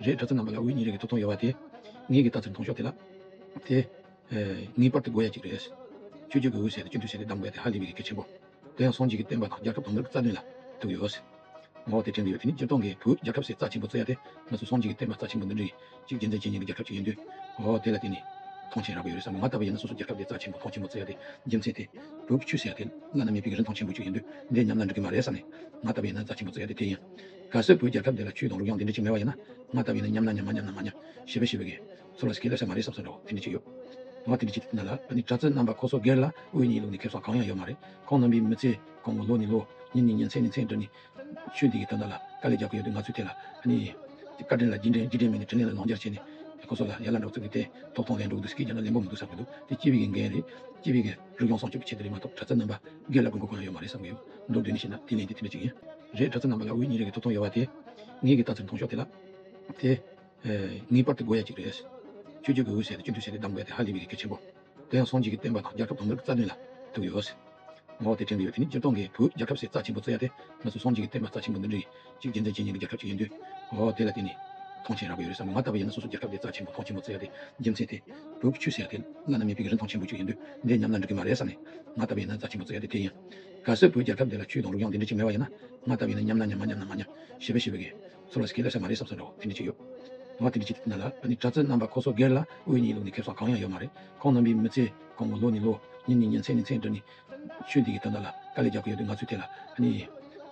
རེད་གྲྭ་ཚ་རྣམས་པ་ལ་འུ་གཉིས་རེ་གི་ཐུགས་དོན་ཡོད་བ་དེ། ངེད་ཀྱི་ལྟ་ཚུལ་མཐོང་ཤོག་དེ་ལ། དེ། ངེས་པར་དུ་དགོས་ཡ་གཅིག་རེད། ཆོས་རྒྱུད་ཀྱི་འོད་ཟེར་དང་སྤྱི་འཐུས་ཟེར་ནས་གདམས་དགོས་ཡ་དེ་ཧ་ལས་པའི་ཡི་གེ་ཆེན་པོ། དེ་ཡང་སངས་རྒྱས་ཀྱི་བསྟན་པ་དང་རྒྱལ་ཁབ་དོན་དག་གི་རྩ་དོན་ལ་ཐུག་ཡོད། ངོ་བོ་དེ་དྲན་གྱི་ཡོད་དེ་ནི་སྤྱིར་བཏང་གི་བུ་རྒྱལ་ཁབ་སའི་རྩ་ཆེན་པོ་རྩོད་ཡ་དེ་ང་ཚོ་སངས་རྒྱས་ཀྱི་བསྟན་པ་རྩ་ཆེན་པོ་འདི་འདྲི་གཅིག་རྒྱལ་མཚན་ཅན་ཉན་གི་རྒྱལ་ཁབ་ཅིག་ཡིན་དུས། ཨོ་དེ་ལ་དེ་ནི། ཐང་ཆེན་རག་པའི་ཡོད་རེད་བསམ་གི་ང་ལྟ་བུ་ཡིན་ན་སོ་སོ་རྒྱལ་ཁབ་དེ་རྩ་ཆེན་པོ་ཐང་ཆེན་པོ་རྩོད་ཡ་དེ་རྒྱལ་མཚན་དེ། བོད་ཀྱི་ཆོས་ཟེར་ཡ་དེ་བླ་ན་མེད་པའི་རིན་ཐང་ཆེན་པོ་ཅིག་ཡིན་དུས་འདྲེ་ཉམས་ན་འགྲིག་གི་མ་རེད་བསམ་ནས། ང་ལྟ་བུ་ཡིན་ན་རྩ་ཆེན་པོ་རྩོད་ཡ་དེ་དེ་ཡིན། ག་སྲས་བུ་རྒྱལ་ཐབས་འདི་ལ་ཁྱོད་དང་རུ་རྒྱང་དེ་འདྲི་གཅིག་མེད་པ་ཡིན་ན་ང་ལྟ་བུའི་ནི་མཉམ་ན་མཉམ་མ་མཉམ་ན་མ་མཉམ་ཞེས་པའི་ཤེས་པའི་གེ་སོ་ལ་ཟེར་གི་སླེབས་ས་མ་རེད་བསམ་ས་འདྲ་བོ་དེ་འདྲི་གཅིག་ཡོད་ང་དེ་འདྲི་གཅིག་ན་ལ་ཨ་ནི་གྲྭ་བཙུན་རྣམ་པ་ཁོ་སོགས་སྒེར་ལ་དབུས་གཉིས་ལུགས་ནི་ཁེབས་སོགས་གང་ཡང་ཡོད་མ་རེད་ཁོང་རྣམ་པའི་མི་ཚེ་གོང་གི་ལོ་ནི་ལོ་ཉིན་ནི་ཉིན་མཚན་ནི་མཚན་འདྲ་ནི་ཆོས་འདི་གི་དོན་དག་ལ་དཀའ་ལས་རྒྱག་གི་ཡོད་དུས་ང་ཚོས་དེ་ལ་ཨ་ནི་བཀའ་དྲིན་ལ་རྒྱི་དྲིན་རྒྱི་དྲིན་མེད་ནི་དྲིན་ལན་ལ་ལོང་རྒྱག་བྱས་ནི་ཁོ་སོགས་ལ་ཡར་ལ་འདྲ་བོ་ཚུགས་གི་དེ་ཐོག་ཐོག་ལན་འགྲོ་གི་འདུག་སེ་གེ་རྒྱ་ན་ལན་པོ་མི་འདུག་བསམ་གི་འདུག་དེ་སྐྱིད་པའི་གི་འགན་རེད་སྐྱིད་པའི་གི་རུ་རྒྱང་སྲོང་སྐྱོབ་ཀྱི་ཆེད་དུ་རེད་མ་གཏོགས་གྲྭ་བཙུན་རྣམ་པ་སྒེར་ལ་དགོས་མཁོ་གང་ཡང་ཡོད་མ་རེད་བསམ་གི་འདུག་འདོད་ནི་ཤེས་ན་དེ་ལན་དེ་དེ་འདྲི་གཅིག་ཡིན། རེད་གྲྭ་ཚ་རྣམས་པ་ལ་འུ་གཉིས་རེ་གི་ཐུགས་དོན་ཡོད་བ་དེ། ངེད་ཀྱིས་ལྟ་ཚུལ་མཐོང་ཤོག་དེ་ལ། དེ། ངེས་པར་དུ་དགོས་ཡ་གཅིག་རེད། ཆོས་རྒྱུད་ཀྱི་འུར་ཟེར་དེ་སྤྱི་འཐུས་ཟེར་དེ་གདམ་དགོས་དེ་ཧ་ལས་པའི་གེགས་ཆེན་པོ། དེ་ཡང་སོང་རྗེས་ཀྱི་བསྟན་པ་དང་རྒྱལ་ཁབ་དོ་མི་རིགས་རྩ་དོན་ལ་ཐུག་ཡོད། ངོ་བོ་དེ་དྲན་གྱི་ཡོད་དེ་ནི་སྤྱིར་བཏང་གི་བུ་རྒྱལ་ཁབ་ཟེར་རྩ་ཆེན་པོ་རྩོད་ཡ་དེ་ང་ཚོ་སོང་རྗེས་ཀྱི་བསྟན་པ་རྩ་ཆེན་པོ་འདི་འདྲི་གཅིག་རྒྱལ་མཚན་ཅན་ཡིན་གྱི་རྒྱལ་ཁབ་ཅིག་ཡིན་དུས། འོ་དེ་ལ་དེ་ནི། མཐོང་ཆེན་རག་གི་ཡོད་རེད་བསམ་གི་ང་ལྟ་བུ་ཡིན་ན་སོ་སོ་རྒྱལ་ཁབ་དེ་རྩ་ཆེན་པོ་མཐོང་ཆེན་པོ་རྩོད་ཡ་དེ་རྒྱལ་མཚན་དེ། བུ་ཁྱུད་ཟེར་ཡ་དེ་བླ་ན་མེད་པའི་རིན་ཐོང་ཆེན་པོ་ཅིག་ཡིན་དུས་འདི་ཉམས་ན་འགྲིག་གི་མ་རེད་བསམ་ནས་ང་ལྟ་བུ་ཡིན་ན་རྩ་ཆེན་པོ་རྩོད་ཡ་དེ་དེ་ཡིན། ག་སྲིད་བོད་རྒྱལ་ཁབ་འདི་ལ་ཆུའི་དོང་རུ་ཡང་དེ་འདྲའི་ཅིག་མེད་པ་ཡིན་ན་ང་ལྟ་བུས་ནི་མཉམ་ན་མཉམ་མ་མཉམ་ན་མ་མཉམ་ཞེས་པའི་ཤི་བའི་གེ་སར་བ་ཟེར་གྱི་སླེབས་ས་མ་རེད་བསམ་ས་འདྲ་བོ་དེ་འདྲའི་ཅིག་ཡོད། ང་དེ་འདྲའི་ཅིག་ན་ལ་ནི་གྲྭ་བཙུན་རྣམ་པ་ཁོ་ཚོ་སྒེར་ལ་དབུས་ཉིས་ལུགས་ནས་ཁེབས་ས་གང་ཡང་ཡོད་མ་རེད་ཁོང་རྣམ་པའི་མི་ཚེ་གོང་གི་ལོ་ནི་ལོ་ཉིན་ནི་ཉིན་མཚན་ནི་མཚན་འདྲ་ནི། ཆོས་འདི་གི་དོན་དག་ལ་དཀའ་ལས་རྒྱག་གི་ཡོད་དུས་ང་ཚོས་དེ་ལ་ནི།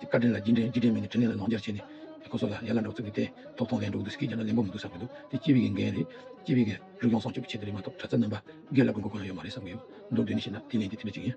བཀའ་དྲིན་ལ་རྒྱི་དྲིན་རྒྱི་དྲིན་མིན་ནི་དྲིན་ལན་ལ་ལོངས་སྤྱར་བྱས་ནས། ཁོ་ཚོ་ལ་ཡར་ལ་འགྲོ་ཚུལ་གྱི་དེ་ཐོབ་ཐང་ལས་འགྲོ་གི་འདུག་སི་ཁའི་རྒྱ་ནག་ལེན་པོ་མི་འདུག་བསམ་གྱི་འདུག་དེ་སྐྱིད་བི་གི་འགན་རེད། སྐྱིད་བི་གི་རིག་གཞུང་སྲོང་སྐྱོབ་ཀྱི་ཆེད་དེ་རེད་མ་གཏོགས་གྲྭ་བཙུན་རྣམ་པ་སྒེར་ལ་དགོས་མཁོ་གང་ཡང་ཡོད་མ་རེད་བསམ་གྱི་འདུག་འདོད་འདོད་ནི་བྱས་ན་དེ་ལན་དེ་དེ་འདྲ་ཅིག་ཡིན།